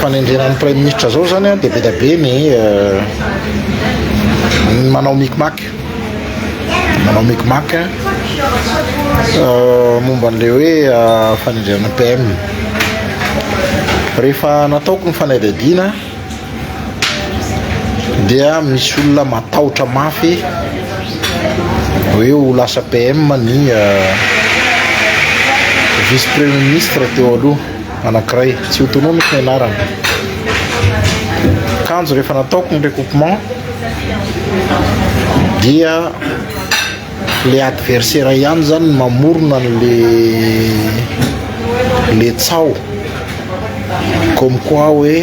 fanendrena ny praiminisitra zao zany an dia be dia be ny ny manao micmac manao micmac momba an'ilay hoe fanendrena PM rehefa nataoko ny fanadihadiana dia misy olona matahotra mafy hoe ho lasa PM ny vice premier ministre teo aloha anankiray tsy ho tononiko ny anarany kanjo rehefa nataoko ny recoupement dia le adversaire ihany zany ny mamorona le le tsao comme quoi hoe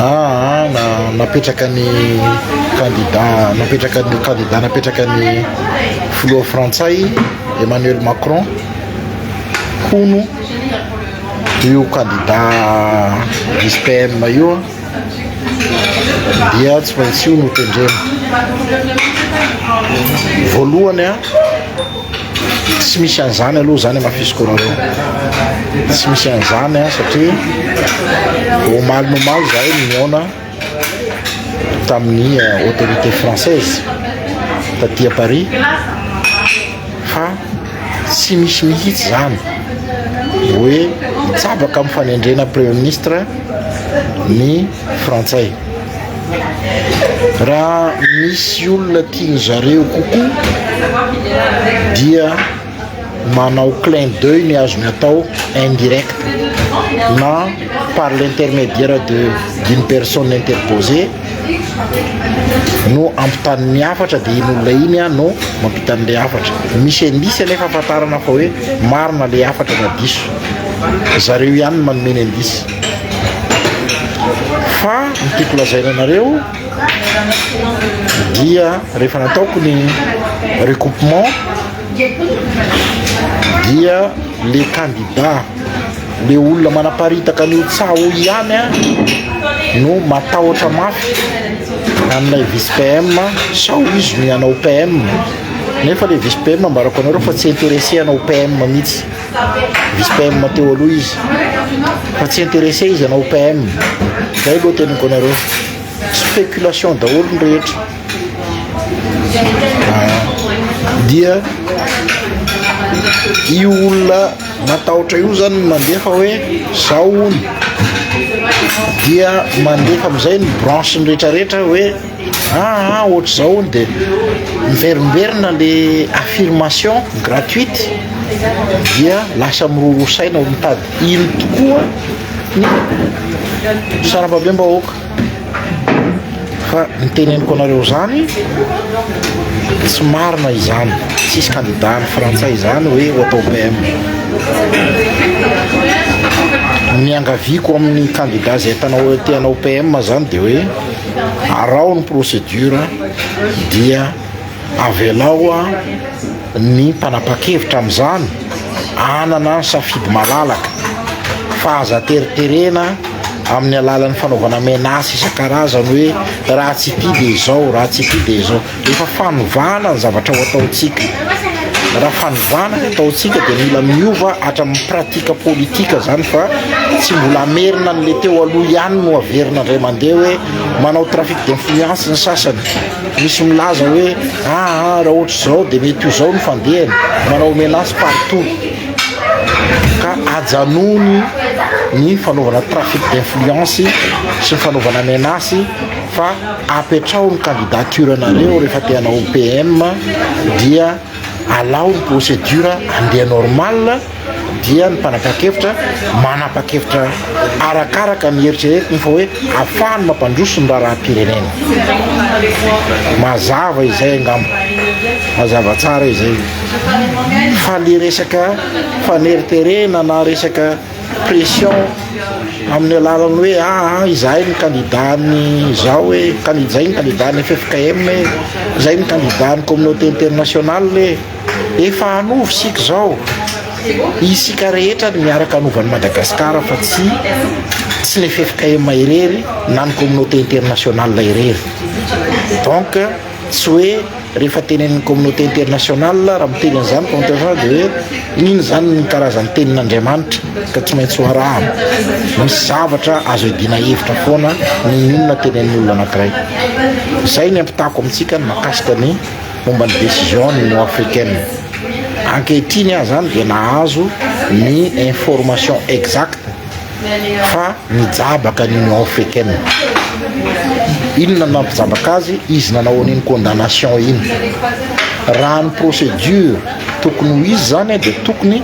aa ah, ah, na napetraka ny candidat napetraka ny candidat napetraka ny filoha frantsay Emmanuel Macron hono io kandida vice PM io dia tsy maintsy io no tendrena voalohany a tsy misy an'izany aloha zany amafisiko reo tsy misy an'izany a satria omaly nomaly zahay mihaona tamin'ny autorité française taty à Paris fa tsy misy mihitsy izany hoe hitsabaka amin'ny fanendrena premier ministre ny frantsay raha misy olona tian'ny zareo kokoa dia manao clin d'oeil ny azony atao indirect na par l'intermédiaire de d'une personne interposée no ampitany ny hafatra dia iny olona iny a no mampita an'ilay hafatra misy indice anefa ahafantarana fa hoe marina ilay hafatra na diso zareo ihany no manome ny indice fa ny tiako lazaina anareo dia rehefa nataoko ny recoupement dia le kandida le olona manaparitaka ny ho tsaho ihany a no matahotra mafy an'ilay vice PM sao izy no hanao PM nefa le vice PM ambarako anareo fa tsy intéressé hanao PM mihitsy vice PM teo aloha izy fa tsy intéressé izy hanao PM zay aloha teniko anareo spéculation daholo ny rehetra dia io olona matahotra io zany mandefa hoe zao ony dia mandefa amizay ny branche ny retraretra hoe aa ah, ah, ohatr' zao ony de miverimberina le affirmation gratuite dia lasa mirorosaina ho mitady ino tokoa ny sarambabem-bahoaka Fa ny teneniko anareo izany tsy marina izany. Tsisy candidat any frantsay izany hoe ho atao PM. Ny angaviako amin'ny candidat izay tanao te hanao PM izany dia hoe araho ny procédure dia Avelao ny mpanapa-kevitra amin'izany hanana safidy malalaka fa aza teriterena amin'ny alalan'ny fanaovana menace isan-karazany hoe raha tsy ity dia izao, raha tsy ity dia izao. Efa fanovana ny zavatra ho ataontsika. Raha fanovana ny ataontsika dia mila miova hatramin'ny pratique politique izany fa tsy mbola hamerina an'ilay teo aloha ihany no haverina indray mandeha hoe manao trafic d'influence ny sasany. Misy milaza hoe aa raha ohatra izao dia mety ho izao ny fandehany, manao menace partout ka ajanony ny fanaovana trafic d'influence sy ny fanaovana menace fa apetraho ny candidature nareo rehefa te hanao PM dia alao ny procédure handeha normal dia ny mpanapa-kevitra manapa-kevitra arakaraka ny eritreretiny fa hoe afahany mampandroso ny raharaham-pirenena. Mazava izay angamba, mazava tsara izay. Fa le resaka faneriterena na resaka pression amin'ny alalan'ny hoe aa ah, ah, izahay ny kandidany izao hoe izay ny kandidany FFKM, izay ny kandidany communauté internationale. Efa hanova isika izao. Isika rehetra ary miaraka hanova an'i Madagasikara fa tsy tsy le ffkm irery na ny communauté internationale irery. Donc tsy hoe rehefa tenenin'ny communauté internationale raha miteny an'izany contingent dia hoe iny izany ny karazan'ny tenin'Andriamanitra ka tsy maintsy ho arahana. Misy zavatra azo iadiana hevitra foana noho ny olona tenenin'olona anankiray. Izay ny ampitako amintsika ny mahakasika ny momba ny décision ny Union africaine. Ankehitriny aza zany dia nahazo ny information exacte fa nijabaka ny Union africaine. Inona no nampijabaka azy? Izy nanao an'iny condamnation iny. Raha ny procédure tokony ho izy zany dia tokony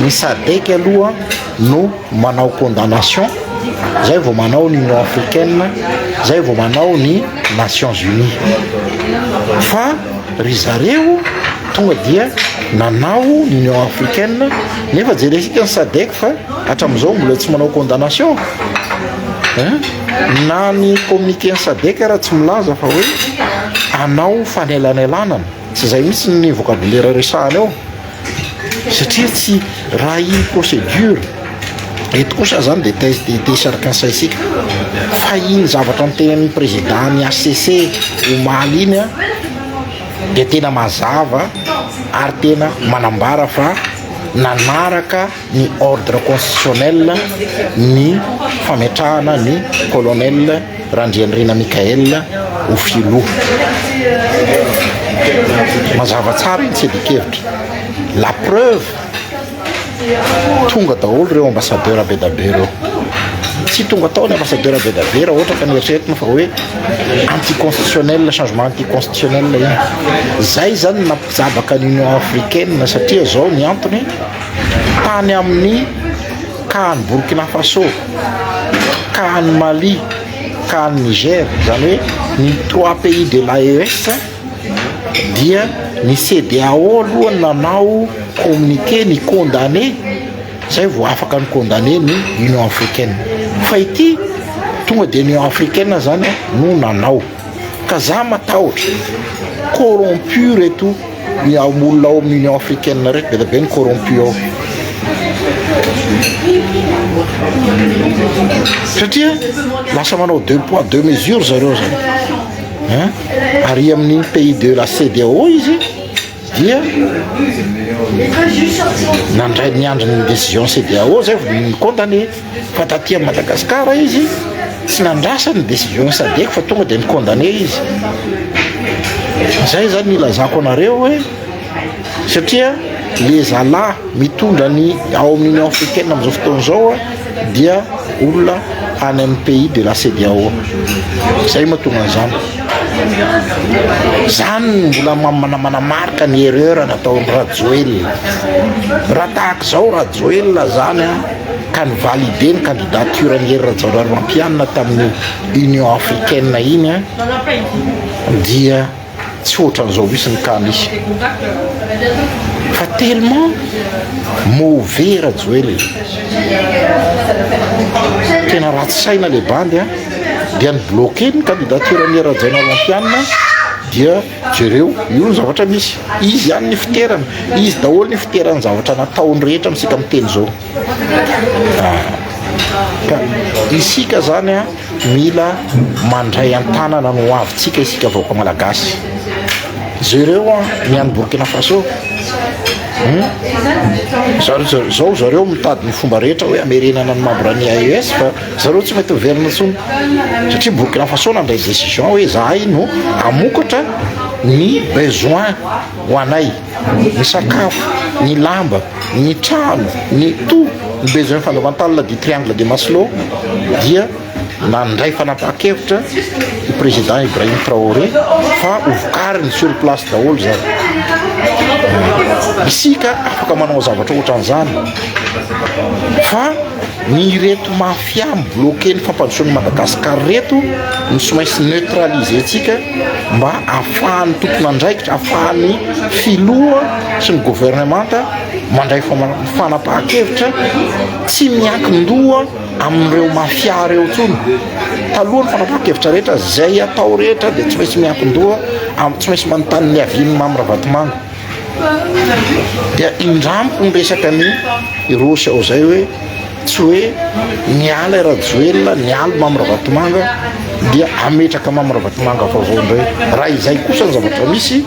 ny SADEC aloha no manao condamnation zay vao manao ny union africaine zay vao manao ny nations unis fa ry zareo tonga dia nanao ny union africaine nefa jeresika ny sadec fa hatramin'izao mbola tsy manao condamnation na ny communiqué ny sadec raha tsy milaza fa hoe anao fanelanelanana tsy zay mihitsy ny vocabulaire resahana eo satria tsy raha iny procédure eto kosa aza zany dia test de décharcance isika fa iny zavatra nitenin'ny président ny HCC omaly iny a dia tena mazava ary tena manambara fa nanaraka ny ordre constitutionnel ny fametrahana ny colonel Randrianirina Michael ho filoha. Mazava tsara iny tsy adikevitra. La preuve tonga daholo ireo ambassadeur be dabe ireo. Tsy tonga tao ny ambassadeur be dabe raha ohatra ka nieritreritra fa hoe anticonstitutionnel, changement anticonstitutionnel iny. Zay zany nampijabaka ny Union africaine satria zao ny antony tany amin'ny kahan'i Burkina Faso, kahan'i Mali, kahan'i Niger, izany hoe ny trois pays de l'AES dia ny CEDEAO aloha no nanao communiqué ni-condamné izay vao afaka ni-condamné ny Union africaine fa ity tonga dia ny Union africaine izany no nanao. Ka za matahotra, corrompu reto ny am olona ao am union africaine reto, be dia be ny corrompu ao. Satria lasa manao deux poids deux mesures zareo zany. Hein? Ary amin'ny pays de la CEDEAO izy, dia nandray niandry ny décision CEDEAO zay vao ny compte anie fa taty amin'i Madagascar izy tsy nandrasa ny décision SADEC fa tonga dia ni-condamné izy zay zany ilazako anareo hoe satria le zalahy mitondra ny ao amin'ny Union africaine amin'izao fotoana izao dia olona any amin'ny pays de la CEDEAO izay no mahatonga an'izany, izany no mbola manamarika ny erreur nataon'i Rajoelina, raha tahaka izao Rajoelina izany an ka ni-valider ny candidature an'i Hery Rajaonarimampianina tamin'ny Union africaine iny an dia. tsy ohatran'izao misy ny cas misy fa tellement mauvais Rajoel e tena ratsy saina le bandy a dia ny bloquer ny candidature an'i Rajaonarimampianina dia jereo io ny zavatra misy izy ihany ny fiterana izy daholo ny fiterany zavatra nataony rehetra amintsika miteny izao Ka isika zany a mila mandray an-tanana ny hoavintsika isika vahoaka malagasy. Jereo a ny any Burkina Faso hmm? Zar- zao zareo mitady ny fomba rehetra hoe amerenana ny membre ny AES fa zareo tsy mety miverina intsony satria Burkina Faso nandray décision hoe zahay no hamokatra ny besoin ho anay ny sakafo, ny lamba, ny trano, ny tout ny besoin fondamental du triangle de Maslow dia nandray fanapahan-kevitra i Président Ibrahim Traoré fa ho vokariny sur place daholo izany. Isika afaka manao zavatra ohatran'izany fa ny ireto mafia Mpiahy mi-bloquer ny fampandrosoan'i Madagascar reto no tsy maintsy neutraliser-tsika mba ahafahan'ny tompon'andraikitra, ahafahan'ny filoha sy ny governemanta mandray fanapahan-kevitra tsy miankin-doha amin'ireo mafia ireo intsony. Talohan'ny fanapahan-kevitra rehetra, izay atao rehetra dia tsy maintsy miankin-doha, tsy maintsy manontany ny avis-n'i Mamy Ravatomanga. dia indramiko ny resaka ny irosy ao zay hoe tsy hoe niala i rajoelina nialy mamy ravatomanga dia ametraka mamy ravatomanga vaovao ndray raha izay kosa ny zavatra misy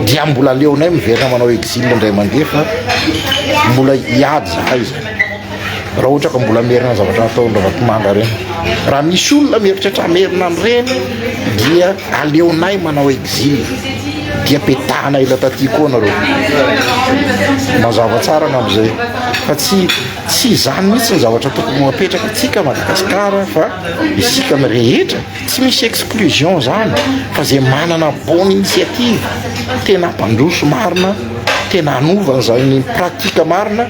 dia mbola leonay miverina manao exile ndray mandeha fa mbola hiady zahay zany raha ohatra ka mbola merina zavatra nataony ravatomanga reny raha misy olona mieritreritra merina an'ireny dia Aleonay manao exil dia petahana ela taty koa nareo. Mazava tsara angamba zay. Fa tsy tsy izany mihitsy ny zavatra tokony ho apetraka atsika Madagascar fa isika ny rehetra tsy misy exclusion zany fa zay manana bonne initiative tena mpandroso marina tena hanova an'izany pratique marina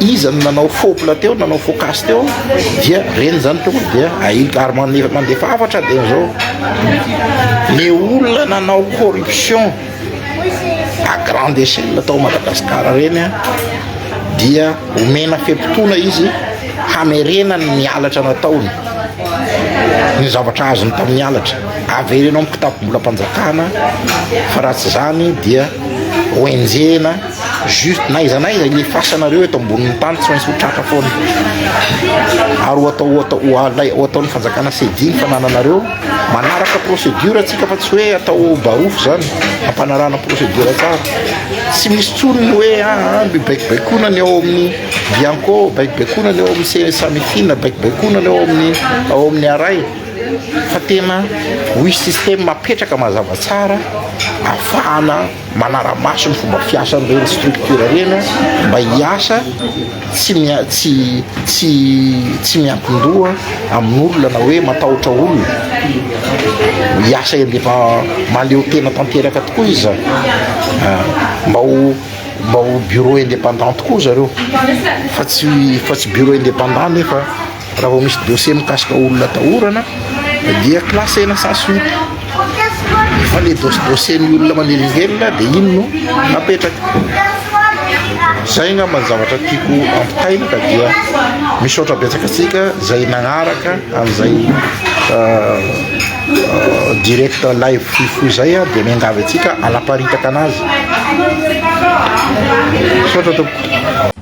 Iza no nanao faux plat teo, nanao faux cas teo dia reny izany tokony dia ahilika ary mande- mandefa hafatra dia zao le olona nanao corruption à grande échelle tao Madagascar reny a dia omena fe-potoana izy hamerenany ny halatra nataony ny zavatra azony tamin'ny halatra avereno amin'ny kitapom-bolam-panjakana fa raha tsy izany dia ho enjehina juste na aiza na aiza ilefasanareo eto ambonin'ny tany tsy maintsy ho tratra foana ary ho atao atao ho alay ho ataon'ny fanjakana sediny fanananareo manaraka procédure atsika fa tsy hoe atao barofo zany ampanarahana procédure tsara tsy misy tsony ny hoe aa ah, ah, baikobaikonana ny ao amin'ny bianco baikobaikonana ny ao amin'ny samitina baikobaikonana ny ao amin'ny ao amin'ny aray fa tena hoisy systeme mapetraka mazava tsara afahana manara-maso ny fomba fiasan'ireny structure ireny mba hiasa tsy mia- tsy tsy tsy miankin-doha amin'olona na hoe matahotra olona hiasa eny rehefa mahaleo tena tanteraka tokoa izy zany Ah, mba ho mba ho bureau indépendant tokoa zareo fa tsy fa tsy bureau indépendant nefa Raha vao misy dossier mikasika olona atahorana dia classena sans suite. Fa le dos- dossier-n'ny olona manelingelina dia iny no napetraka. Zay angamba ny zavatra tiako ampitaina ka dia misaotra betsaka antsika izay nagnaraka an'izay direct live fohy fohy izay a, dia miangavy antsika hanaparitaka an'azy. Misaotra tompoko.